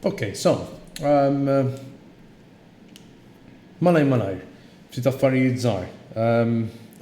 Okay, so, um, malaj malaj, ftit affarijiet żgħar. Um,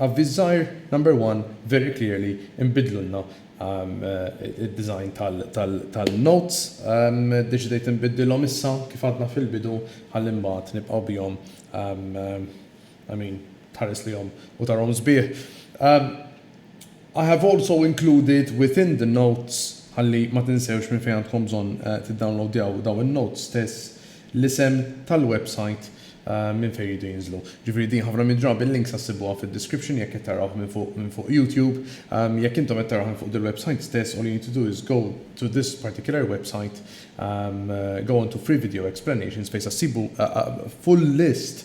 Avviż żgħar, number one, very clearly, imbidlulna Id-design tal-notes ddeċidejt inbiddilhom issa kif għadna fil-bidu ħalli mbagħad nibqgħu bihom I mean tħares lejhom u tarahom sbieħ. I have also included within the notes ħalli ma tinsewx minn fejn għandkom bżonn tiddownloadjaw dawn in-notes stess, l-isem tal-websajt minn fejn iridu jinżlu. Ġifieri din ħafna mid-drabi l-links issibuha fid-description jekk qed tarawh minn fuq minn fuq YouTube. Jekk intom qed tarawh minn fuq dil-websajt stess all you need to do is go to this particular website go on to free video explanations fejn se ssibu full list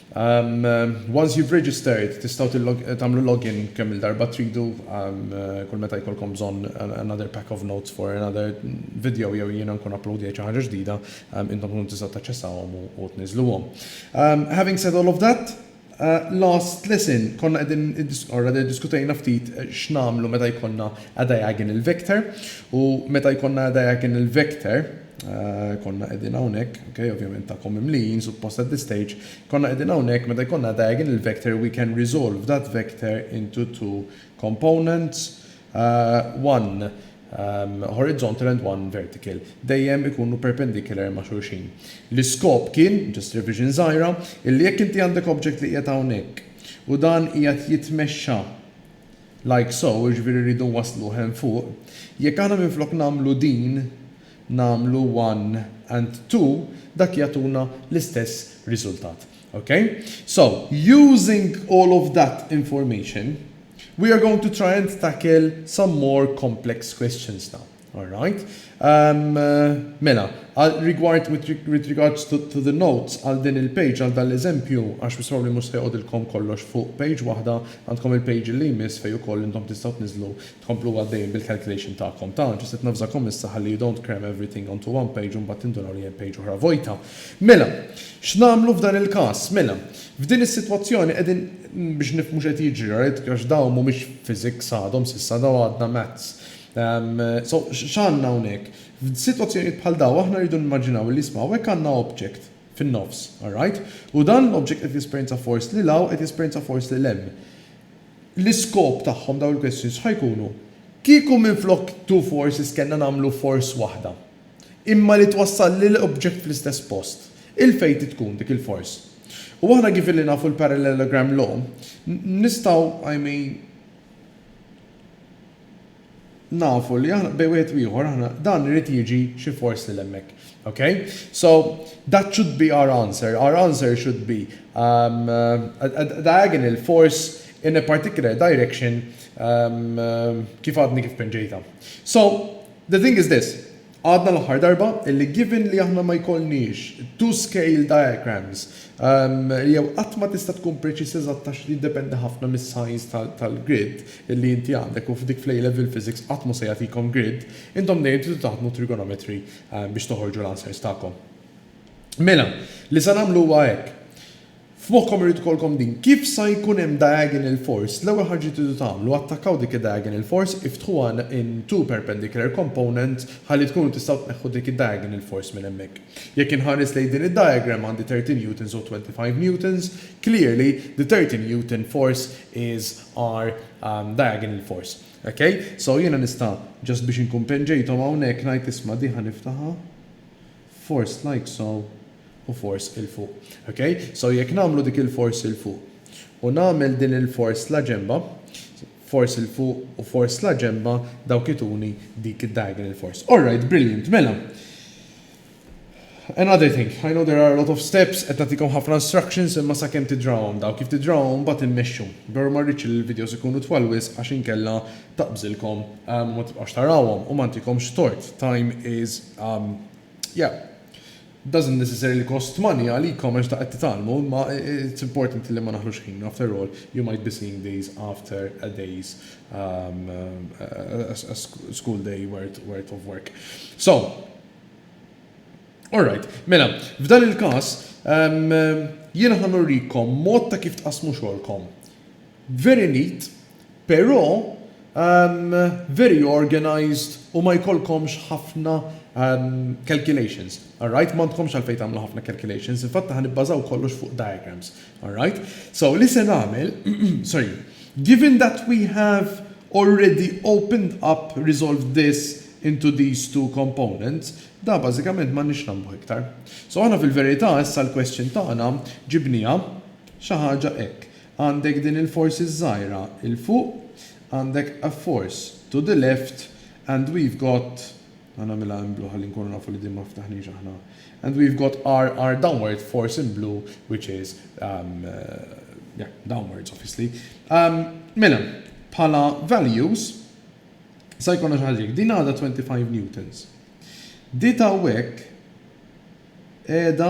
Once you've registered, tistgħu tagħmlu login kemm-il darba tridu, kull meta jkollkom bżonn another pack of notes for another video jew jiena nkun uploadjajt xi ħaġa ġdida, intom tkunu tistgħu taċċessawhom u tniżżluhom. Having said all of that, last lesson konna qegħdin or rather iddiskutejna ftit x'nagħmlu meta jkollna a diagonal vector u meta jkollna a diagonal vector, Konna qegħdin hawnhekk, ok, ovvjament tagħkom mimlijin, suppost at this stage, konna qegħdin hawnhekk meta jkollna diagonal vector we can resolve that vector into two components, uh, one um, horizontal and one vertical. Dejjem ikunu perpendicular ma' xulxin. L-iskop kien, just revision żgħira, illi jekk inti għandek object li qiegħed hawnhekk u dan qiegħed jitmexxa Like so, jiġifieri rridu nwassluh hemm fuq. Jekk aħna minflok nagħmlu din nagħmlu one and two, dak jagħtuna l-istess riżultat. Ok? So, using all of that information, we are going to try and tackle some more complex questions now. All right. Mela, għal rigward, with regards to the notes, għal din il-page, għal dan l-eżempju, għax most probably mhux se joqgħodilkom kollox fuq page waħda, għandkom il-page li jmiss fejn ukoll intom tistgħu tniżżlu, tkomplu għaddejjin bil-calculation tagħkom. Ta', ġust qed navżakom issa ħalli you don't cram everything onto one page u mbagħad tinduraw li hemm page oħra vojta. Mela, x'nagħmlu f'dan il-każ? Mela, f'din is-sitwazzjoni qegħdin, biex nifhmu x'qed jiġri, right, għax dawn mhumiex physics għadhom s'issa, dawn għadna maths. So, x'għandna hawnhekk? F'sitwazzjonijiet bħal dawn aħna rridu nimmaġinaw li isma' hawnhekk għandna object fin-nofs, alright? U dan l-object qed jesperjenza force lil hawn, qed jesperjenza force lil hemm. L-iskop tagħhom dawn il-questions x'ħa jkunu? Kieku minflok two forces kellna nagħmlu force waħda, imma li twassal lil object fl-istess post, il-fate tkun dik il-force. U aħna given li nafu l-parallelogram law, nistgħu, I mean, nafu li aħna bejn wieħed u ieħor aħna dan irid jiġi xi force lil hemmhekk. Okay? So that should be our answer. Our answer should be um, a, a, a diagonal force in a particular direction um, kif għadni kif penġejta. So the thing is this. Għadna l-aħħar darba li given li aħna ma jkollniex two scale diagrams jew qatt ma tista' tkun preċiż eżatt għax jiddependi ħafna mis-size tal-grid li inti għandek u f'dik fl-A Level Physics qatt mhu se jagħtikom grid, intom dejjem tridu taħdmu trigonometry biex toħorġu l-answers tagħkom. Mela, li se nagħmlu huwa hekk. F'moħħkom irid ikollkom din, kif sa jkun hemm diagonal force, l-ewwel ħaġa li tridu tagħmlu, attakkaw dik id-diagonal force, iftħuha in two perpendicular components ħalli tkunu tistgħu tneħħu dik id-diagonal force minn hemmhekk. Jekk inħares lejn din id-diagram għandi thirty newtons u twenty five newtons, clearly the thirty newton force is our diagonal force. Ok? So jiena nista' just biex inkun penġejthom hawnhekk ngħid isma' din ħa niftaħha, Force like so u force 'il fuq. Ok? So jekk nagħmlu dik il-force 'il fuq u nagħmel din il-force la ġenbha, force 'il fuq u force la ġenbha, dawk ituni dik id-diagonal force. Alright, brilliant, mela. Another thing, I know there are a lot of steps, qed nagħtikom ħafna instructions imma sakemm tidrawhom daw, kif tidrawhom imbagħad immexxu. Veru ma rridx li l-videos ikunu twal wisq għax inkella taqbżilkom u ma tibqgħux tarawhom u ma ntikomx tort time is yeah doesn't necessarily cost money għalikom għax da qed titgħallmu imma it's important li ma naħlux ħin after all you might be seeing these after a day's um, a, a school day worth, worth of work so Alright, mela, f'dan il-kas, um, jiena ħanurrikom mod ta' kif tqasmu xogħolkom. Very neat, pero umm very organised u ma jkollkomx ħafna umm calculations, alright? M'għandkomx għalfejn tagħmlu ħafna calculations, infatti ħa nibbażaw kollox fuq diagrams, alright? So li se nagħmel, sorry, given that we have already opened up, resolved this into these two components, da bażikament m'għandniex nagħmluh iktar. So aħna fil-verità issa l-question tagħna ġibnieha xi ħaġa hekk. Għandek din il-force ż-żgħira 'l fuq, għandek a force to the left and we've got, ħa nagħmilha in blue ħalli nkunu nafu li din ma ftaħniex aħna, and we've got our our downward force in blue which is yeah downwards obviously. Mela, bħala values sa jkollna xi ħaġa hekk. Din għadha 25 newtons. Di t'hawnhekk qiegħda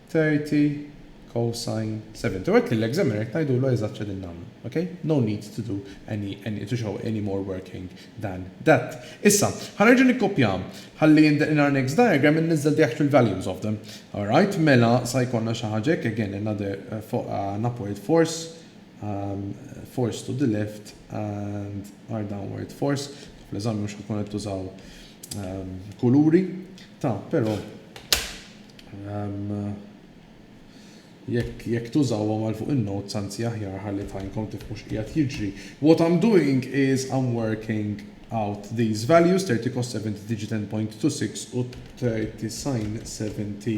30 cosine 70. U hekk lill-examiner qed ngħidulu eżatt x'qegħdin nagħmlu. Ok? No need to do any, any, to show any more working than that. Issa, ħa nerġa' nikkopja ħalli in the, in our next diagram inniżżel the actual values of them. Alright, mela sa jkollna xi ħaġa hekk, again another, an upward force, um, force to the left and our downward force. Fl-eżami mhux ħatkun qed tużaw um, kuluri, ta' però Jekk jekk tużawhom għal fuq in-notes anzi aħjar ħalli tgħinkom tifhmu x'qiegħed jiġri. What I'm doing is I'm working out these values 30 cos 70 tiġi 10.26 u 30 sin 70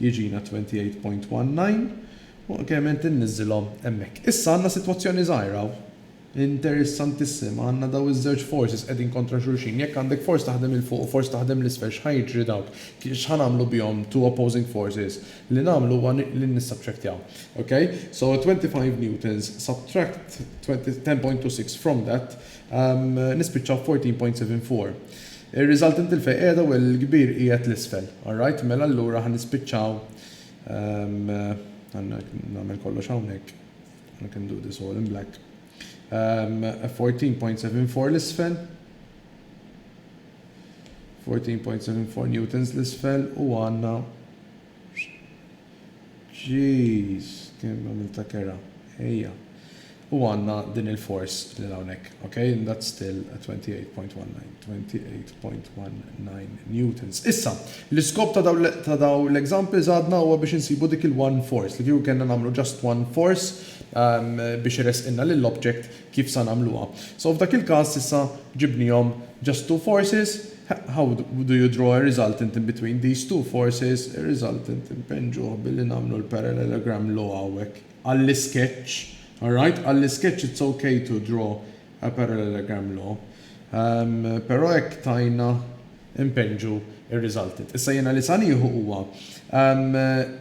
jiġina 28.19 u ovvjament inniżilhom hemmhekk. Issa għandna sitwazzjoni żgħira Interessantissima, għandna dawn iż-żewġ forces qegħdin kontra xulxin. Jekk għandek force taħdem 'il fuq u force taħdem 'l isfel x'ħa jiġri dawk? X'ħa nagħmlu bihom two opposing forces? Li nagħmlu huwa li nissubtractjaw. Ok? So 25 newtons subtract 10.26 from that nispiċċaw b' 14.74. Ir-resultant il fejn qiegħda u l kbir qiegħed 'l isfel. Alright? Mela allura ħa nispiċċaw, ħa nagħmel kollox hawnhekk. I can do this all in black. Um, 14.74 l-isfel. 14.74 newtons l-isfel u għanna Jeez, kien għamil ta' kera. Ejja. U għanna din il-force li l-għonek. Ok, and that's still 28.19. 28. 0.19 newtons. Issa, l-iskop ta' dawn ta' dawn l-examples għadna huwa biex insibu dik il-one force, li kieku kellna nagħmlu just one force biex iressqilna lill-object kif sa nagħmluha. So f'dak il-każ s'issa ġibnihom just two forces, how do you draw a resultant in between these two forces, ir-resultant impenġuh billi nagħmlu l-parallelogram law hawnhekk. Għall-isketch, alright, għall-isketch it's ok to draw a parallelogram law. Però hekk tajna npinġu r-riżultit. Issa jiena li sa nieħu huwa,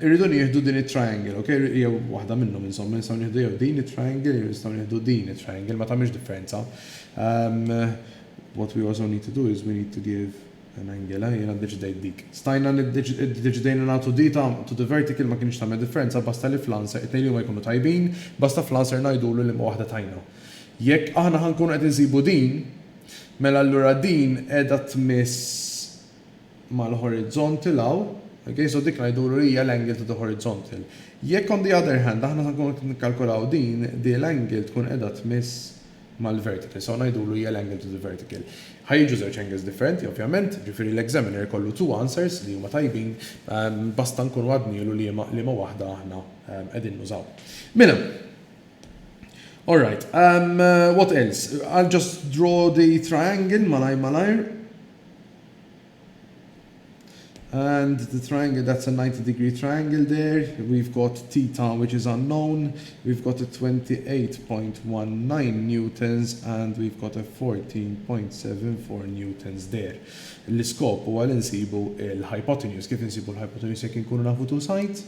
irridu nieħdu din it-triangle, ok, jew waħda minnhom insomma, nistgħu nieħdu jew din it-triangle jew nistgħu nieħdu din it-triangle, ma tagħmilx differenza. What we also need to do is we need to give an angle, eh, jiena ddeċidejt dik. Stajna ddeċidejna nagħtu dita to the vertical ma kinitx tagħmel differenza basta li fl-answer, it-tnejn li huma jkunu tajbin, basta fl-answer ngħidulu liema waħda tajna. Jekk aħna ħa nkunu qed insibu din, mela allura din qiegħda tmiss mal-horizontal hawn, ok, so dik ngħidulu li hija l-angle to the horizontal. Jekk on the other hand aħna ħa nkunu qed nikkalkulaw din, di l-angle tkun qiegħda tmiss mal-vertical, so ngħidulu hija l-angle to the vertical. Ħa jiġu żewġ angles differenti ovvjament, ġifieri l-examiner ikollu two answers li huma tajbin, basta nkunu għadnielu liema waħda aħna qegħdin nużaw. Mela, All right. Um, what else? I'll just draw the triangle malajr malajr. And the triangle, that's a 90 degree triangle there. We've got theta, which is unknown. We've got a 28.19 newtons and we've got a 14.74 newtons there. L-iskop u għal insibu l-hypotenuse. Kif insibu l-hypotenuse jek nkunu nafu two sides?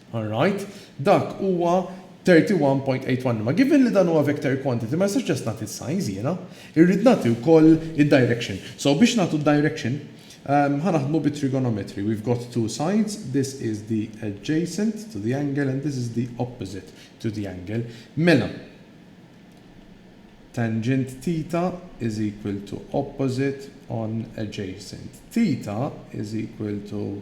Alright, dak huwa 31.81 imma given li dan huwa vector quantity ma nistax just nagħti s-size jiena. Irrid nagħti wkoll id-direction. So biex nagħtu d-direction, ħa naħdmu bit-trigonometry. We've got two sides, this is the adjacent to the angle and this is the opposite to the angle. Mela, tangent theta is equal to opposite on adjacent. Theta is equal to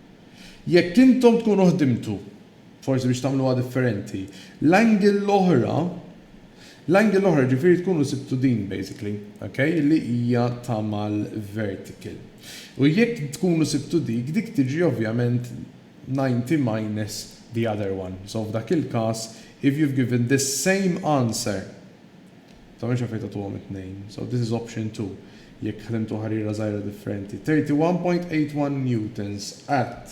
Jekk intom tkunu ħdimtu, forsi biex tagħmluha differenti, l-angle l-oħra, l-angle l-oħra jiġifieri tkunu sibtu din basically, ok, li hija ta' mal-vertical. U jekk tkunu sibtu dik, dik tiġi ovvjament 90 minus the other one. So f'dak il-każ, if you've given this same answer, Tagħmilx affarijiet għatuhom it-tnejn. So this is option two jekk ħdimtu ħariera żgħira differenti. 31.81 newtons at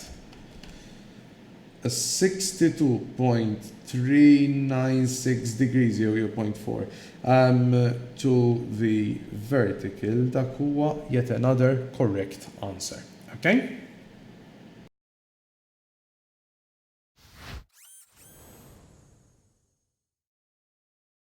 a 62.396 degrees jew jew point four um to the vertical dak huwa yet another correct answer. Okay?